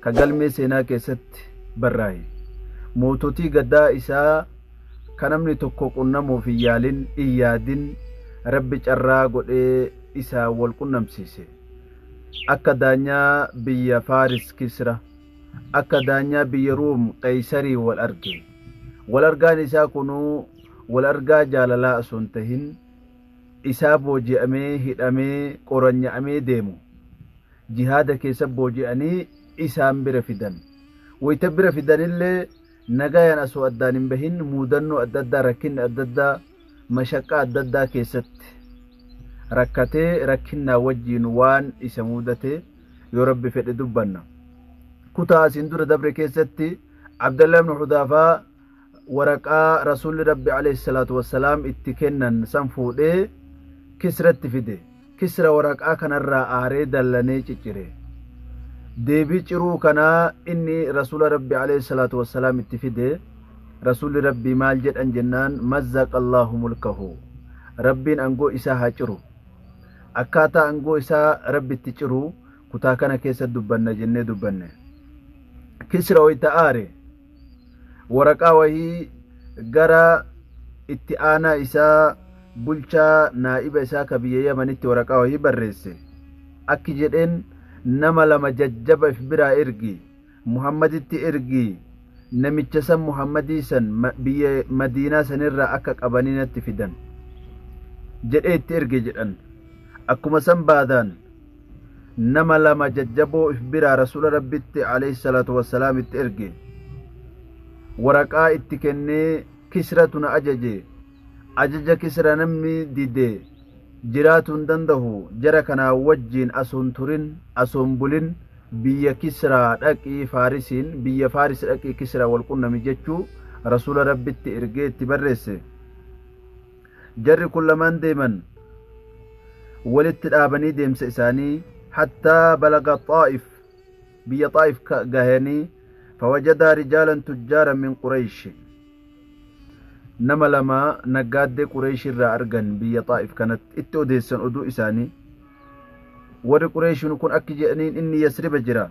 ka galmee seenaa keessatti barraaye. Moototii gadaa isaa ka namni tokko qunnamuuf hin yaalin, hin yaadin, Rabbi carraa godhee isaan wal qunnamsiise. Akka daanyaa biyya Faaris Kisra, akka daanyaa biyya Ruum Qeeysariin wal arge. Wal argaan isaa kunuu wal argaa jaalalaa osoo hin tahin, isaa booji'amee, hidhamee, qoranya'amee deemu. jihaada keessa booji'anii isaan bira fidan. Wayita bira fidanillee nagayaan asoo addaan hin bahin muudannoo adda addaa rakkinni adda addaa mashaqqaa adda addaa keessatti rakkatee rakkinnaa wajjiin waan isa muudate yoo rabbi fedhe dubbanna. Kutaa asiin dura dabre keessatti Abdallah ibn Hudaafaa waraqaa rasuulli rabbi alayhi salaatu wassalaam itti kennan san fuudhee kisratti fide kisra waraqaa kanarraa aaree dallanee ciccire deebii ciruu kanaa inni rasuula rabbi alayhi salaatu wassalaam itti fide rasuulli rabbii maal jedhan jennaan mazzaqa allaahu mulkahu rabbiin angoo isaa haa ciru akkaataa angoo isaa rabbi itti ciru kutaa kana keessa dubbanna jennee dubbanne kisra wayta aare waraqaa wahii gara itti aanaa isaa bulchaa naa'iba isaa ka biyya yamanitti waraqaa wahii barreesse akki jedheen nama lama jajjaba if biraa ergi muhammaditti ergi namicha san muhammadii san biyya madiinaa sanirraa akka qabanii natti fidan jedhee itti erge jedhan akkuma san baadaan nama lama jajjaboo if biraa rasuula rabbitti alayhi salaatu wassalaam itti erge waraqaa itti kennee kisratu na ajaje ajaja kisra namni dide jiraatu hin dandahu jara kanaa wajjiin asoon turin asoon bulin biyya kisraa dhaqii faarisiin biyya faaris dhaqii kisra wal qunnami jechuu rasuula rabbitti ergee itti barreesse Jarri kun lamaan deeman walitti dhaabanii deemsa isaanii hattaa balaga Xaa'if biyya Xaa'if gahanii fawajadaa rijaalan tujjaaran min Qureeshi nama lama naggaaddee Qureeshi irraa argan biyya Xaa'if kanatti itti odeessan oduu isaanii warri Qureeshin kun akki jedhaniin inni Yasriba jira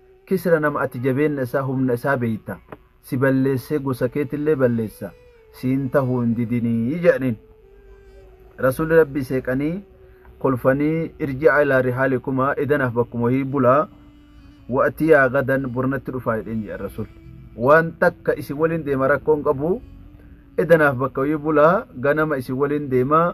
Kisra nama ati jabeenna isaa humna isaa beeyta, si balleessee gosa keetillee balleessa, siin tahuu hin didinii je'aniin. Rasuulli Rabbii seeqanii kolfanii irji'aa ilaa rihaalikumaa edanaaf bakkuma wahii bulaa, wa'atiyaa gadan bor natti dhufaa jedheen je'an Rasuulli. Waan takka isin waliin deema rakkoo hin qabu, edanaaf bakka wahii bulaa, ganama isin waliin deemaa,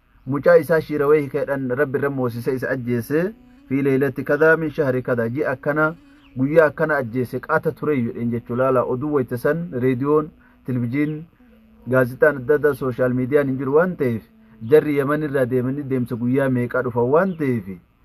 mucaa isaa shiirawee hikeedhan rabbi irra moosise isa ajjeese fi leeylatti kadaa min shahri kadaa ji'a akkana guyyaa akkana ajjeese qaata turee jedheen jechuu laala oduu wayta san reediyoon tilvijiin gaazixaan adda addaa sooshaal miidiyaan hin jiru waan ta'eef jarri yaman irraa deemanii deemsa guyyaa meeqaa dhufan waan ta'eef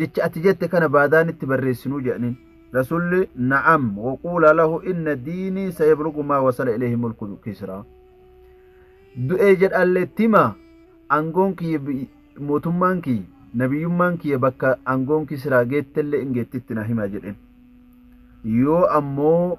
jecha ati jette kana baadaa nitti barreessinuu jedhaniin rasulli na'am waquula lahu inna diinii sayablugu maa wasala ilayhi mulku kisraa du'ee jedhallee tima angoon kiyya mootummaan kiyya nabiyyummaan kiyya bakka angoon kisraa geettellee in geettitti na hima jedhen yoo ammoo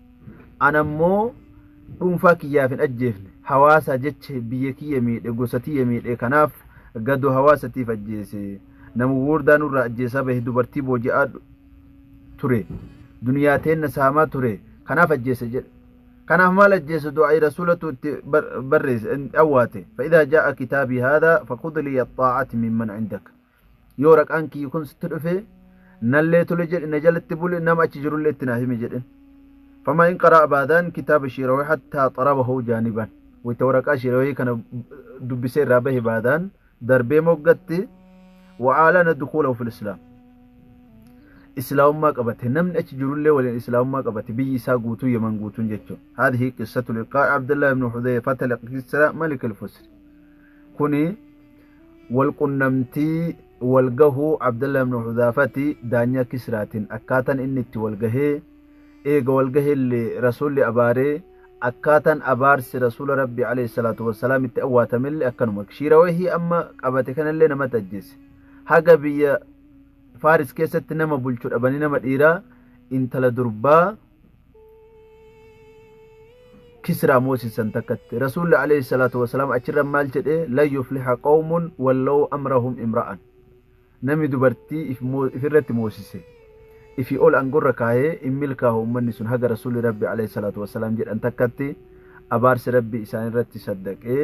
ana immoo dhuunfaa kiyyaaf hin ajjeefne hawaasa jecha biyya kiyya miidhe gosa tiyya miidhe kanaaf gadoo hawaasatiif ajjeese nama gurguddaa nurraa ajjeesaa bahe dubartii booji'aa ture duniyaa teenna saamaa ture kanaaf ajjeese jedhe kanaaf maal ajjeese du'aa'i rasuulatu itti barreesse awwaate fa'idaa jaa'a kitaabii haadaa fakudlii axxaa'ati mimman indaka Yoo waraqaan kiyyi kun sitti dhufe nallee tole jedhi na jalatti buli nama achi jirullee itti naa himi jedhin. Famaa in qaraa baadaan kitaaba shiirawee hattaa xarabahu jaaniban. Wayita waraqaa shiirawee kana dubbisee irraa bahe baadaan darbee moggatti wa'aalana dukuulahu fil islaam. Islaamummaa qabate namni achi jirullee waliin islaamummaa qabate biyyi isaa guutuu yeman guutuun jechuun. Haadhi qissatu liqaa Abdullahi ibn Hudayfata liqissa malik al-Fusri. Kuni Walqunnamtii, walgahuu, Abdallah ibn Hudhaafati daanyaa Kisraatin akkaatan inni itti walgahee, eega walgahellee Rasuulli abaaree, akkaatan abaarsi Rasuula Rabbii aleyh salaatu wassalaam itti awwaatamelle akkanuma. Shiira wahii amma qabate kanallee namatu ajjeese. Haga biyya Faaris keessatti nama bulchu dhabanii nama dhiiraa, intala durbaa, kisraa moosisan takkatti rasuulli alayhi salaatu wasalaam achirra maal jedhe lan yufliha qawmun wallaw amrahum imra'an nami dubartii ifirratti moosise ifi ol angorra kaayee in milkaahu ummanni sun haga rasuulli rabbi alayhi salaatu wasalaam jedhan takkatti abaarsi rabbi isaanirratti saddaqee